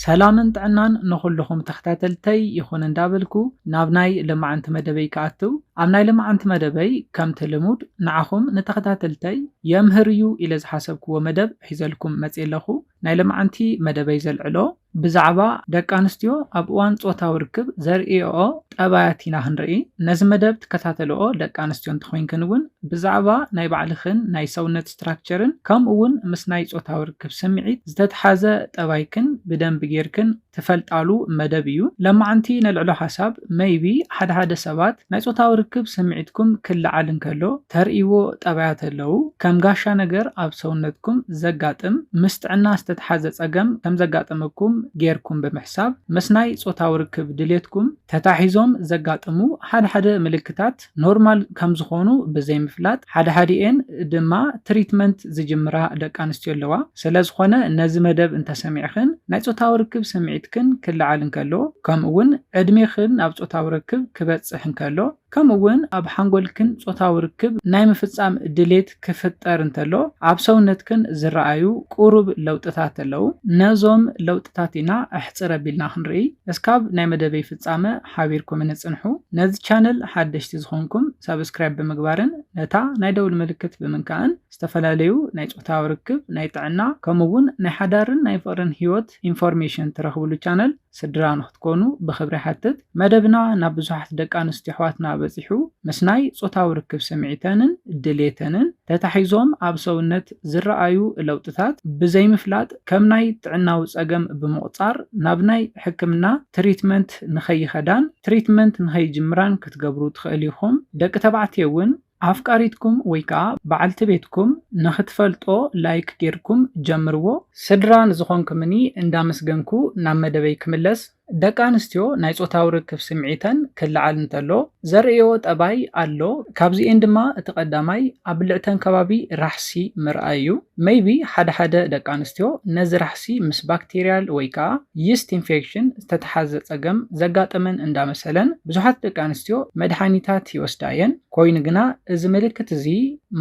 ሰላምን ጥዕናን ንኹሉኹም ተኽታተልተይ ይኹን እንዳበልኩ ናብ ናይ ለማዓንቲ መደበይ ክኣትው ኣብ ናይ ለማዓንቲ መደበይ ከምቲ ልሙድ ንዓኹም ንተኽታተልተይ የምህር እዩ ኢለ ዝሓሰብክዎ መደብ ሒዘልኩም መጽየ ኣለኹ ናይ ለማዓንቲ መደበይ ዘልዕሎ ብዛዕባ ደቂ ኣንስትዮ ኣብ እዋን ጾታዊ ርክብ ዘርእየኦ ጠባያት ኢና ክንርኢ ነዚ መደብ ትከታተልኦ ደቂ ኣንስትዮ እንተኾይንክን እውን ብዛዕባ ናይ ባዕልኽን ናይ ሰውነት ስትራክቸርን ከምኡ ውን ምስ ናይ ጾታዊ ርክብ ስምዒት ዝተትሓዘ ጠባይክን ብደንቢ ጌርክን ትፈልጣሉ መደብ እዩ። ለማዓንቲ ነልዕሎ ሓሳብ መይቢ ሓደ ሓደ ሰባት ናይ ጾታዊ ርክብ ስምዒትኩም ክለዓል እንከሎ ተርእይዎ ጠባያት ኣለው ከም ጋሻ ነገር ኣብ ሰውነትኩም ዘጋጥም ምስ ጥዕና ዝተትሓዘ ጸገም ከም ዘጋጠመኩም ጌርኩም ብምሕሳብ ምስ ናይ ጾታዊ ርክብ ድሌትኩም ተታሒዞም ዘጋጥሙ ሓደ ሓደ ምልክታት ኖርማል ከምዝኾኑ ብዘይምፍላጥ ሓደሓዲኤን ድማ ትሪትመንት ዝጅምራ ደቂ ኣንስትዮ ኣለዋ። ስለዝኾነ ነዚ መደብ እንተሰሚዕኽን ናይ ፆታዊ ርክብ ስምዒትክን ክለዓል እንከሎ ከምኡ እውን ዕድሜኽን ናብ ፆታዊ ርክብ ክበፅሕ እንከሎ ከምኡ እውን ኣብ ሓንጎልክን ፆታዊ ርክብ ናይ ምፍፃም ድሌት ክፍጠር እንተሎ ኣብ ሰውነትክን ዝረኣዩ ቁሩብ ለውጥታት ኣለው። ነዞም ለውጥታት ኢና ኣሕፅር ኣቢልና ክንርኢ። እስካብ ናይ መደበይ ፍጻመ ሓቢርኩምኒ ጽንሑ። ነዚ ቻነል ሓደሽቲ ዝኾንኩም ሳብስክራይብ ብምግባርን ነታ ናይ ደውል ምልክት ብምንካእን ዝተፈላለዩ ናይ ጾታዊ ርክብ፣ ናይ ጥዕና ከምኡ ውን ናይ ሓዳርን ናይ ፍቕርን ሂወት ኢንፎርሜሽን ትረኽብሉ ቻነል ስድራ ንኽትኮኑ ብኽብሪ ይሓትት። መደብና ናብ ብዙሓት ደቂ ኣንስትዮ ኣሕዋትና በጺሑ ምስ ናይ ጾታዊ ርክብ ስምዒተንን ድሌተንን ተታሒዞም ኣብ ሰውነት፣ ዝረኣዩ ለውጥታት ብዘይምፍላጥ ከም ናይ ጥዕናዊ ጸገም ብምቑጻር ናብ ናይ ሕክምና ትሪትመንት ንኸይኸዳን ትሪትመንት ንኸይጅምራን ክትገብሩ ትኽእል ኢኹም። ደቂ ተባዕትዮ እውን ኣፍቃሪትኩም ወይ ከኣ በዓልቲ ቤትኩም ንኽትፈልጦ ላይክ ጌርኩም ጀምርዎ። ስድራ ንዝኾንኩምኒ እንዳመስገንኩ ናብ መደበይ ክምለስ። ደቂ ኣንስትዮ ናይ ጾታዊ ርክብ ስምዒተን ክለዓል እንተሎ ዘርእየኦ ጠባይ ኣሎ ካብዚኤን ድማ እቲ ቀዳማይ ኣብ ብልዕተን ከባቢ ራሕሲ ምርኣይ እዩ ሜይቢ ሓደ ሓደ ደቂ ኣንስትዮ ነዚ ራሕሲ ምስ ባክቴርያል ወይ ከኣ ይስት ኢንፌክሽን ዝተተሓዘ ጸገም ዘጋጠመን እንዳመሰለን ብዙሓት ደቂ ኣንስትዮ መድሓኒታት ይወስዳ እየን ኮይኑ ግና እዚ ምልክት እዚ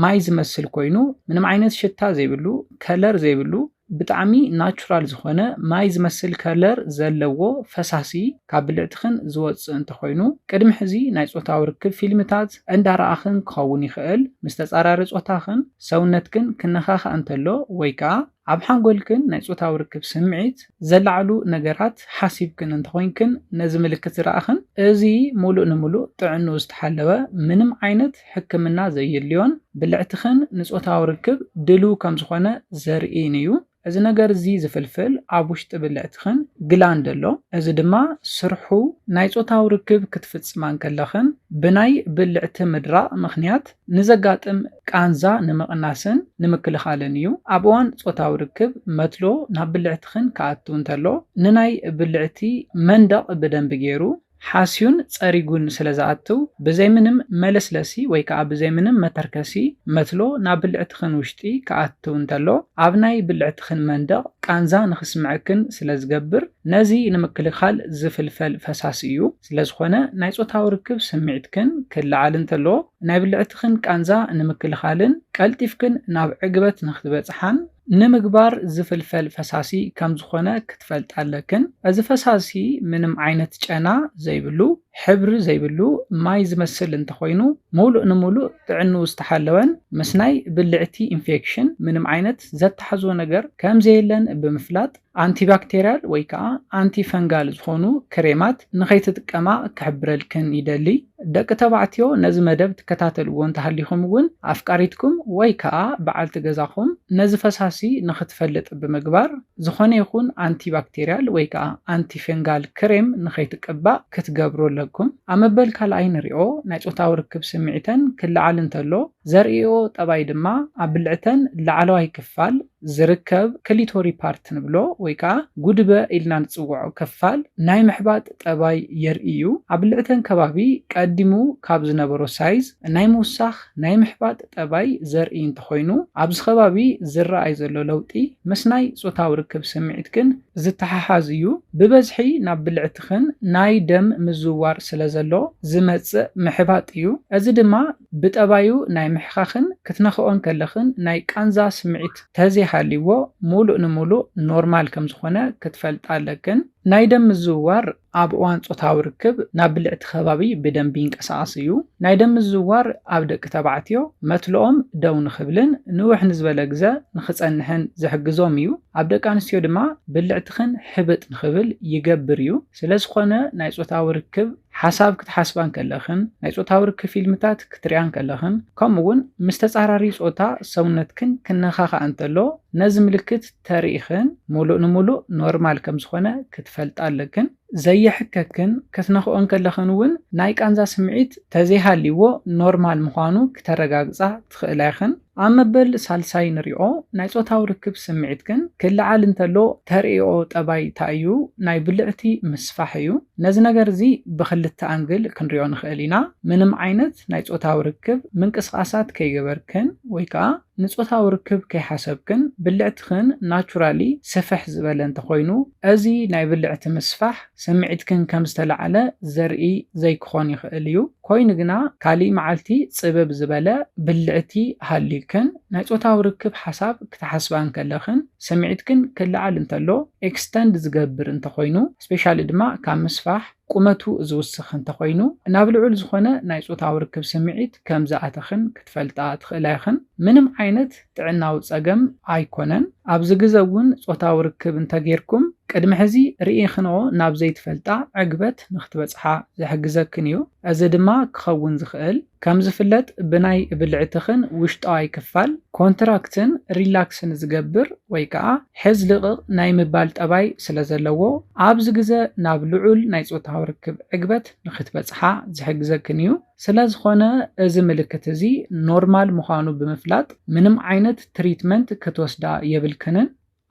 ማይ ዝመስል ኮይኑ ምንም ዓይነት ሽታ ዘይብሉ ከለር ዘይብሉ ብጣዕሚ ናቹራል ዝኾነ ማይ ዝመስል ከለር ዘለዎ ፈሳሲ ካብ ብልዕትኽን ዝወጽእ እንተኾይኑ ቅድሚ ሕዚ ናይ ጾታዊ ርክብ ፊልምታት እንዳረኣኽን ክኸውን ይኽእል። ምስ ተጻራሪ ጾታኽን ሰውነትክን ክነኻኻእ እንተሎ ወይ ከኣ ኣብ ሓንጎልክን ናይ ጾታዊ ርክብ ስምዒት ዘለዓዕሉ ነገራት ሓሲብክን እንተኾይንክን ነዚ ምልክት ዝረኣኽን እዚ ሙሉእ ንሙሉእ ጥዕንኡ ዝተሓለወ ምንም ዓይነት ሕክምና ዘዩድልዮን ብልዕትኽን ንጾታዊ ርክብ ድልው ከም ዝኾነ ዘርእይን እዩ። እዚ ነገር እዚ ዝፍልፍል ኣብ ውሽጢ ብልዕትኽን ግላንድ ኣሎ፣ እዚ ድማ ስርሑ ናይ ጾታዊ ርክብ ክትፍጽማ እንከለኽን ብናይ ብልዕቲ ምድራቕ ምኽንያት ንዘጋጥም ቃንዛ ንምቕናስን ንምክልኻልን እዩ። ኣብ እዋን ጾታዊ ርክብ መትሎ ናብ ብልዕትኽን ክኣቱ እንተሎ ንናይ ብልዕቲ መንደቕ ብደንቢ ገይሩ ሓስዩን ጸሪጉን ስለ ዝኣትው፣ ብዘይ ምንም መለስለሲ ወይ ከኣ ብዘይ ምንም መተርከሲ መትሎ ናብ ብልዕትኽን ውሽጢ ክኣትው እንተሎ፣ ኣብ ናይ ብልዕትኽን መንደቕ ቃንዛ ንኽስምዐክን ስለ ዝገብር፣ ነዚ ንምክልኻል ዝፍልፈል ፈሳሲ እዩ። ስለ ዝኾነ ናይ ጾታዊ ርክብ ስምዒትክን ክለዓል እንተሎ፣ ናይ ብልዕትኽን ቃንዛ ንምክልኻልን ቀልጢፍክን ናብ ዕግበት ንኽትበጽሓን፣ ንምግባር ዝፍልፈል ፈሳሲ ከም ዝኾነ ክትፈልጣ ኣለክን። እዚ ፈሳሲ ምንም ዓይነት ጨና ዘይብሉ፣ ሕብሪ ዘይብሉ፣ ማይ ዝመስል እንተኾይኑ ሙሉእ ንሙሉእ ጥዕንኡ ዝተሓለወን ምስ ናይ ብልዕቲ ኢንፌክሽን ምንም ዓይነት ዘተሓሕዞ ነገር ከም ዘየለን ብምፍላጥ፣ ኣንቲባክቴርያል ወይ ከኣ ኣንቲፈንጋል ዝኾኑ ክሬማት ንኸይትጥቀማ ክሕብረልክን ይደሊ። ደቂ ተባዕትዮ ነዚ መደብ ትከታተልዎ እንተሃሊኹም እውን ኣፍቃሪትኩም ወይ ከኣ በዓልቲ ገዛኹም ነዚ ፈሳሲ ንኽትፈልጥ ብምግባር ዝኾነ ይኹን ኣንቲባክቴርያል ወይ ከኣ ኣንቲፈንጋል ክሬም ንኸይትቅባእ ክትገብሩ ኣለኩም። ኣብ መበል ካልኣይ ንሪኦ ናይ ጾታዊ ርክብ ስምዒተን ክለዓል እንተሎ ዘርእይኦ ጠባይ ድማ ኣብ ብልዕተን ላዕለዋይ ክፋል፣ ዝርከብ ክሊቶሪ ፓርት ንብሎ ወይ ከኣ ጉድበ ኢልና ንጽውዖ ክፋል ናይ ምሕባጥ ጠባይ የርኢ እዩ። ኣብ ብልዕተን ከባቢ ቀዲሙ ካብ ዝነበሮ ሳይዝ ናይ ምውሳኽ ናይ ምሕባጥ ጠባይ ዘርኢ እንተኾይኑ ኣብዚ ከባቢ ዝረኣይ ዘሎ ለውጢ ምስ ናይ ጾታዊ ርክብ ስምዒትክን ዝተሓሓዝ እዩ። ብበዝሒ ናብ ብልዕትኽን ናይ ደም ምዝውዋር ስለዘሎ ዝመጽእ ምሕባጥ እዩ። እዚ ድማ ብጠባዩ ናይ ምሕኻኽን ክትነኽኦን ከለኽን ናይ ቃንዛ ስምዒት ተዘይሃልይዎ ሙሉእ ንሙሉእ ኖርማል ከምዝኾነ ክትፈልጣ ኣለክን። ናይ ደም ምዝውዋር ኣብ እዋን ፆታዊ ርክብ ናብ ብልዕቲ ከባቢ ብደንቢ ይንቀሳቐስ እዩ። ናይ ደም ምዝውዋር ኣብ ደቂ ተባዕትዮ መትልኦም ደው ንኽብልን ንውሕ ንዝበለ ግዘ ንኽፀንሕን ዝሕግዞም እዩ። ኣብ ደቂ ኣንስትዮ ድማ ብልዕትኽን ሕብጥ ንኽብል ይገብር እዩ። ስለዝኾነ ናይ ፆታዊ ርክብ። ሓሳብ ክትሓስባ እንከለኽን ናይ ጾታዊ ርክብ ፊልምታት ክትርእያ እንከለኽን ከምኡ'ውን ምስ ተጻራሪ ጾታ ሰውነትክን ክነኻኻእ እንተሎ ነዚ ምልክት ተሪኢኽን ምሉእ ንምሉእ ኖርማል ከም ዝኾነ ክትፈልጣ ኣለክን። ዘየሕከክን ክትነኽእኦ እንከለኽን እውን ናይ ቃንዛ ስምዒት ተዘይሃልይዎ ኖርማል ምዃኑ ክተረጋግጻ ትኽእላ ኢኽን። ኣብ መበል ሳልሳይ ንሪኦ ናይ ጾታዊ ርክብ ስምዒት ግን ክለዓል እንተሎ ተርእኦ ጠባይ ታይ እዩ ናይ ብልዕቲ ምስፋሕ እዩ ነዚ ነገር እዚ ብክልተ ኣንግል ክንሪኦ ንክእል ኢና ምንም ዓይነት ናይ ጾታዊ ርክብ ምንቅስቃሳት ከይገበርክን ወይ ከኣ ንጾታዊ ርክብ ከይሓሰብክን ብልዕትክን ናቹራሊ ስፍሕ ዝበለ እንተኮይኑ እዚ ናይ ብልዕቲ ምስፋሕ ስምዒትክን ከም ዝተላዕለ ዘርኢ ዘይክኾን ይኽእል እዩ፣ ኮይኑ ግና ካልእ መዓልቲ ጽብብ ዝበለ ብልዕቲ ሃልዩክን ናይ ጾታዊ ርክብ ሓሳብ ክትሓስባ እንከለኽን ስምዒትክን ክለዓል እንተሎ፣ ኤክስተንድ ዝገብር እንተኾይኑ፣ ስፔሻሊ ድማ ካብ ምስፋሕ ቁመቱ ዝውስኽ እንተኾይኑ፣ ናብ ልዑል ዝኾነ ናይ ጾታዊ ርክብ ስምዒት ከም ዝኣተኽን ክትፈልጣ ትኽእላ ኢኽን። ምንም ዓይነት። ጥዕናዊ ጸገም ኣይኮነን ኣብዚ ግዘ እውን ጾታዊ ርክብ እንተጌርኩም ቅድሚ ሕዚ ርኢክንኦ ናብ ዘይትፈልጣ ዕግበት ንክትበጽሓ ዝሕግዘክን እዩ እዚ ድማ ክኸውን ዝኽእል ከም ዝፍለጥ ብናይ ብልዕትኽን ውሽጣዋይ ክፋል ኮንትራክትን ሪላክስን ዝገብር ወይ ከኣ ሕዝ ልቕቕ ናይ ምባል ጠባይ ስለ ዘለዎ ኣብዚ ግዘ ናብ ልዑል ናይ ጾታዊ ርክብ ዕግበት ንክትበጽሓ ዝሕግዘክን እዩ። ስለዝኾነ እዚ ምልክት እዚ ኖርማል ምዃኑ ብምፍላጥ ምንም ዓይነት ትሪትመንት ክትወስዳ የብልክንን።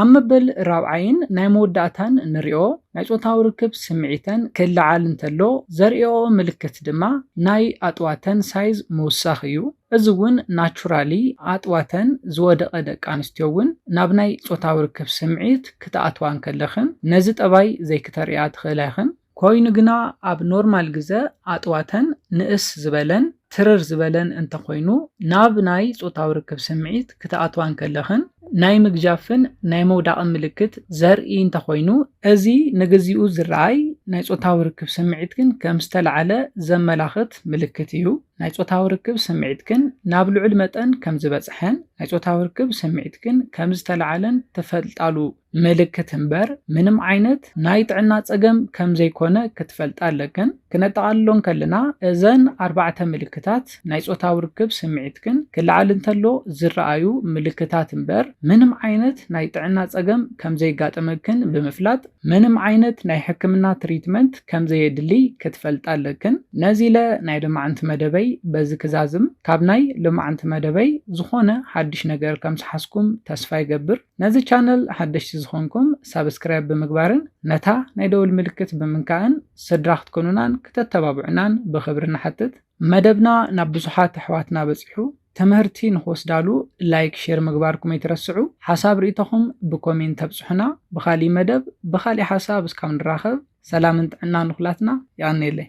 ኣብ መበል ራብዓይን ናይ መወዳእታን ንሪኦ ናይ ጾታዊ ርክብ ስምዒተን ክለዓል እንተሎ ዘርእየኦ ምልክት ድማ ናይ ኣጥዋተን ሳይዝ ምውሳኽ እዩ። እዚ እውን ናቹራሊ ኣጥዋተን ዝወደቐ ደቂ ኣንስትዮ እውን ናብ ናይ ጾታዊ ርክብ ስምዒት ክትኣትዋ እንከለኽን ነዚ ጠባይ ዘይክተርእያ ትኽእላ ኢኽን። ኮይኑ ግና ኣብ ኖርማል ግዘ ኣጥዋተን ንእስ ዝበለን ትርር ዝበለን እንተኾይኑ ናብ ናይ ፆታዊ ርክብ ስምዒት ክትኣትዋ እንከለኽን ናይ ምግጃፍን ናይ ምውዳቕን ምልክት ዘርኢ እንተኾይኑ፣ እዚ ንግዚኡ ዝረኣይ ናይ ፆታዊ ርክብ ስምዒትክን ከም ዝተለዓለ ዘመላኽት ምልክት እዩ። ናይ ፆታዊ ርክብ ስምዒትክን ናብ ልዑል መጠን ከም ዝበፅሐን ናይ ፆታዊ ርክብ ስምዒትክን ከም ዝተለዓለን ትፈልጣሉ ምልክት እምበር ምንም ዓይነት ናይ ጥዕና ጸገም ከም ዘይኮነ ክትፈልጣ ኣለክን። ክነጠቓልሎ እንከለና እዘን ኣርባዕተ ምልክታት ናይ ጾታዊ ርክብ ስምዒትክን ክለዓል እንተሎ ዝረኣዩ ምልክታት እምበር ምንም ዓይነት ናይ ጥዕና ጸገም ከም ዘይጋጠመክን ብምፍላጥ ምንም ዓይነት ናይ ሕክምና ትሪትመንት ከም ዘየድልይ ክትፈልጣ ኣለክን። ነዚለ ናይ ልማዕንቲ መደበይ በዚ ክዛዝም ካብ ናይ ልማዕንቲ መደበይ ዝኾነ ሓድሽ ነገር ከም ዝሓዝኩም ተስፋ ይገብር። ነዚ ቻነል ሓደሽቲ ዝኾንኩም ሳብስክራይብ ብምግባርን ነታ ናይ ደወል ምልክት ብምንካእን ስድራ ክትኮኑናን ክተተባብዑናን ብኽብሪ ንሓትት። መደብና ናብ ብዙሓት ኣሕዋትና በጺሑ ትምህርቲ ንኽወስዳሉ ላይክ ሼር ምግባርኩም ኣይትረስዑ። ሓሳብ ርኢቶኹም ብኮሜንት ተብጽሑና። ብኻሊእ መደብ ብኻሊእ ሓሳብ እስካብ ንራኸብ ሰላምን ጥዕናን ንኹላትና። የቐንየለይ።